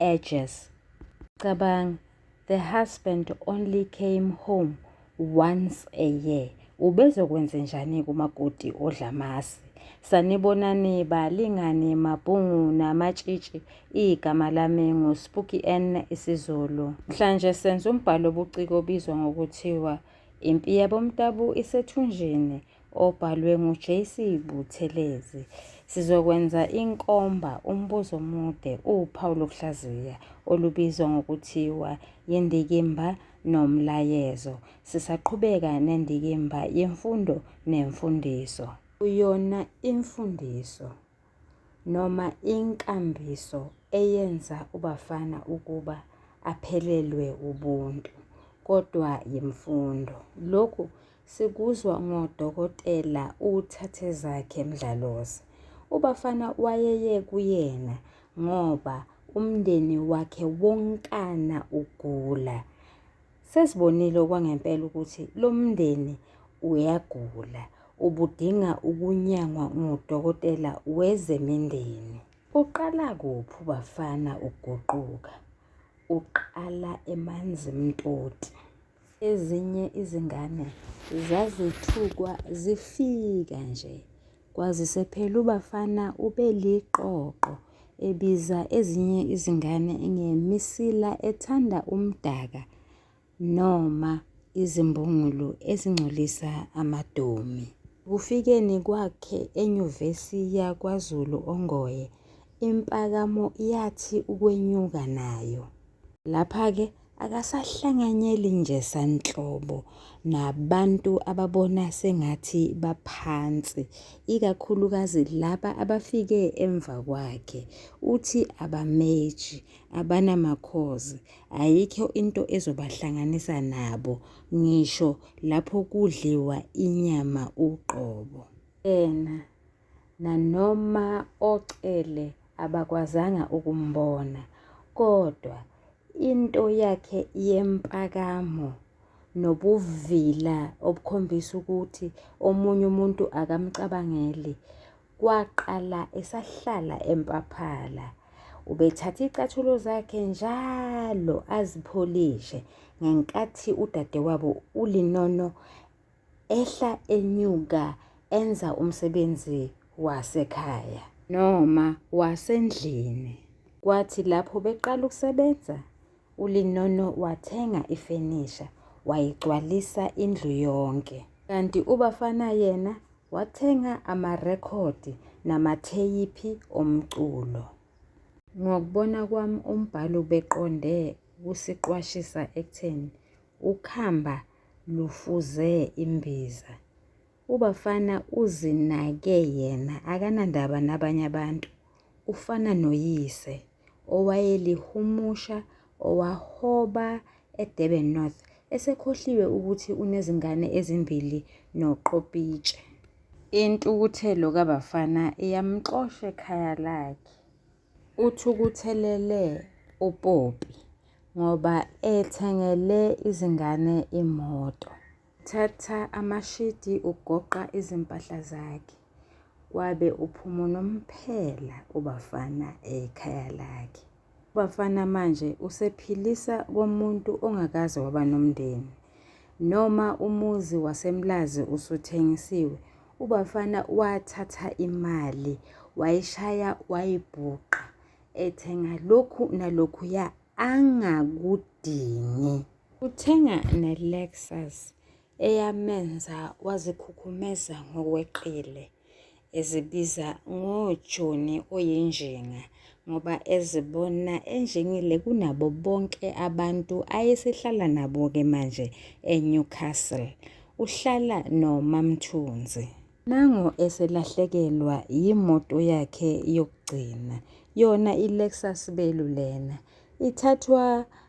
edges. Cabanga, the husband only came home once a year. Ubezokwenze njani kumakoti odlamasi? Sanibonani balingani mabhungu namatshitshi igama lami nguSpooky N isiZulu. Mhlanje senza umbhalo obuciko obizwa ngokuthiwa Impi yabomtabu isethunjini. obhalwe nguJC Buthelezi. Sizokwenza inkomba umbuzo omude uwuphawu lokuhlaziya olubizwa ngokuthiwa yindikimba nomlayezo. Sisaqhubeka nendikimba yemfundo nemfundiso. Uyona imfundiso. noma inkambiso eyenza uBafana ukuba aphelelwe ubuntu, kodwa yimfundo. Lokhu sikuzwa ngoDokotela uThathezakhe Mdlalose. UBafana wayeye kuyena ngoba umndeni wakhe wonkana ugula. Sesibonile okwangempela ukuthi lo mndeni uyagula, ubudinga ukunyangwa ngudokotela wezemindeni. Uqala kuphi ubafana ukuguquka? Uqala emanzi mtoti. Ezinye izingane zazithukwa zifika nje Kwazise phela uBafana ubeliqoqo ebiza ezinye izingane ngemisila ethanda umdaka noma izimbungulu ezingcolisa amadomi. Kufikeni kwakhe eNyuvesi yakwaZulu Ongoye, impakamo yathi ukwenyuka nayo. Lapha-ke akasahlanganyeli nje sanhlobo nabantu ababona sengathi baphansi ikakhulukazi laba abafike emva kwakhe uthi abameji abanamakhozi ayikho into ezobahlanganisa nabo ngisho lapho kudliwa inyama uqobo yena nanoma oCele abakwazanga ukumbona, kodwa into yakhe yempakamo nobuvila obukhombisa ukuthi omunye umuntu akamcabangeli kwaqala esahlala empaphala. Ubethatha icathulo zakhe njalo azipholishe ngenkathi udadewabo uLinono ehla enyuka enza umsebenzi wasekhaya noma wasendlini. Kwathi lapho beqala ukusebenza, uLinono wathenga ifenisha wayigcwalisa indlu yonke. Kanti uBafana yena wathenga amarekhodi namatheyiphi omculo. Ngokubona kwami umbhalo ubeqonde kusiqwashisa ekutheni Ukhamba lufuze imbiza. Ubafana uzinake yena akanandaba nabanye abantu. Ufana noyise owayelihumusha owahoba eDurban North esekhohliwe ukuthi unezingane ezimbili noQopitshe. Intukuthelo kaBafana iyamxosha ekhaya lakhe. Uthukuthelele uPoppy ngoba ethengele izingane imoto. Thatha amashidi ugoqa izimpahla zakhe. Wabe uphuma unomphela ubafana ekhaya lakhe. Ubafana manje usephilisa komuntu ongakaze waba nomndeni. Noma umuzi waseMlazi usuthengisiwe, Ubafana wathatha imali wayishaya wayibhuqa ethenga lokhu nalokhuya angakudingi. Uthenga ne-Lexus eyamenza wazikhukhumeza ngokweqile ezibiza ngojoni oyinjinga ngoba ezibona enjengile kunabo bonke abantu ayesehlala nabo-ke manje eNewcastle. Uhlala noMaMthunzi. Nango eselahlekelwa yimoto yakhe yokugcina, yona iLexus Belu lena. Ithathwa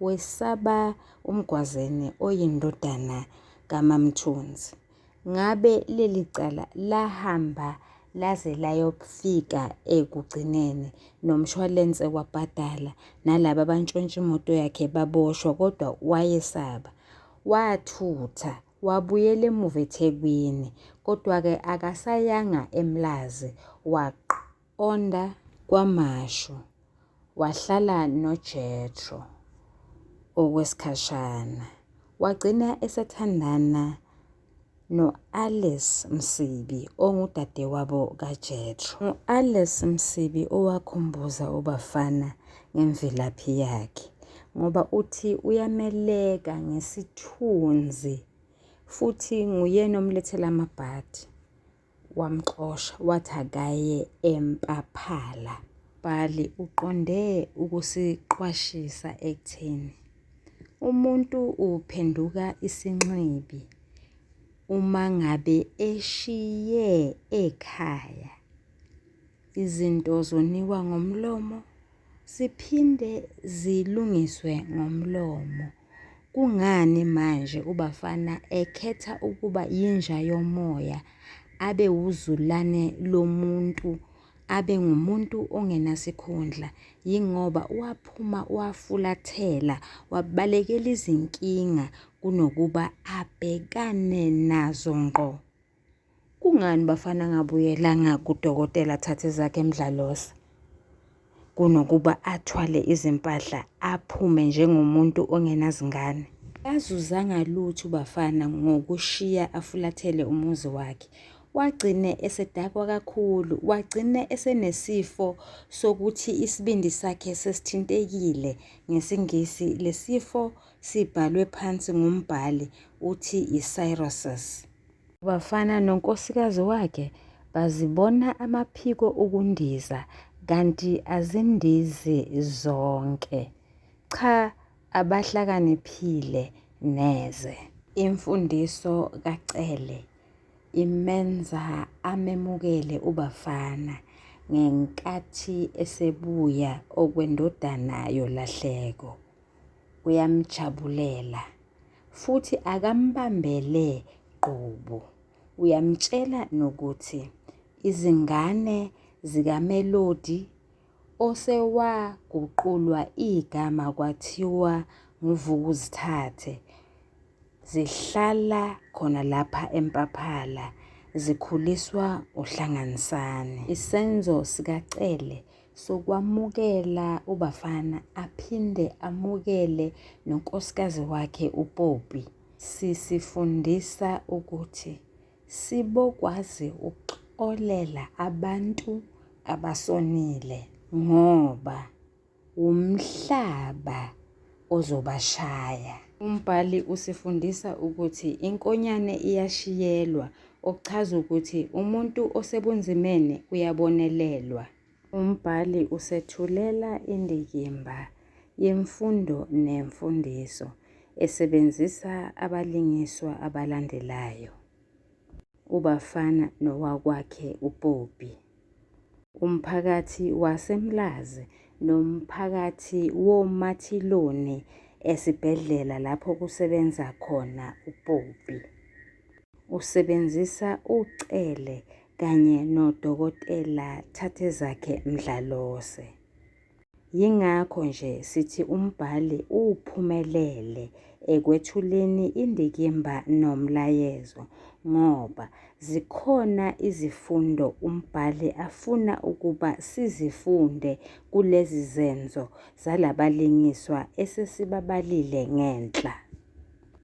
wesaba uMgwazeni oyindodana kaMaMthunzi. Ngabe leli cala lahamba laze layofika ekugcineni nomshwalense wabhadala nalaba abantshontsha imoto yakhe baboshwa kodwa wayesaba. Wathutha wabuyela emuva eThekwini kodwa-ke akasayanga eMlazi waqo. Onda KwaMashu wahlala noJethro okwesikhashana, wagcina esethandana no-Alice Msibi ongudadewabo kaJethro. U-Alice Msibi owakhumbuza uBafana ngemvelaphi yakhe ngoba uthi uyameleka ngesithunzi futhi nguyena omlethela amabhadi. wamxosha wathi akaye eMpaphala. Umbhali uqonde ukusiqwashisa ekutheni umuntu uphenduka isinxibi uma ngabe eshiye ekhaya. Izinto zonikwa ngomlomo siphinde zilungiswe ngomlomo. Kungani manje uBafana ekhetha ukuba yinja yomoya abe wuzulane lomuntu abe ngumuntu ongenasikhundla yingoba waphuma wafulathela wabalekela izinkinga kunokuba abhekane nazo ngqo. Kungani bafana angabuyelanga kudokotela athathe ezakhe emdlalosa kunokuba athwale izimpahla aphume njengomuntu ongenazingane? Kazuzanga lutho uBafana ngokushiya afulathele umuzi wakhe. Wagcine esedakwa kakhulu, wagcine esenesifo sokuthi isibindi sakhe sesithintekile. NgesiNgisi lesifo sibhalwe phansi ngumbhali uthi i-cirrhosis. Bafana nonkosikazi wakhe bazibona amaphiko ukundiza kanti azindizi zonke. Cha abahlakaniphile neze. Imfundiso kaCele imenza amemukele uBafana ngenkathi esebuya okwendodana yolahleko. uyamjabulela futhi akambambele qobo. Uyamtshela nokuthi izingane zikaMelody osewaguqulwa igama kwathiwa nguVukuzithathe zihlala khona lapha eMpaphala zikhuliswa uHlanganisani. Isenzo sikaCele sokwamukela uBafana aphinde amukele nonkosikazi wakhe uPoppy sisifundisa ukuthi sibokwazi ukuxolela abantu abasonile ngoba wumhlaba ozobashaya. Umbhali usifundisa ukuthi inkonyane iyashiyelwa, okuchaza ukuthi umuntu osebunzimeni uyabonelelwa. Umbhali usethulela indikimba yemfundo nemfundiso esebenzisa abalingiswa abalandelayo, uBafana nowakwakhe uPoppy. umphakathi waseMlazi nomphakathi woMathiloni esibhedlela lapho kusebenza khona uPoppy. Usebenzisa uCele kanye noDokotela Thathezakhe Mdlalose. Yingakho nje sithi umbhali uphumelele ekwethuleni indikimba nomlayezo ngoba zikhona izifundo umbhali afuna ukuba sizifunde kulezi zenzo zalabalingiswa esesibabalile ngenhla.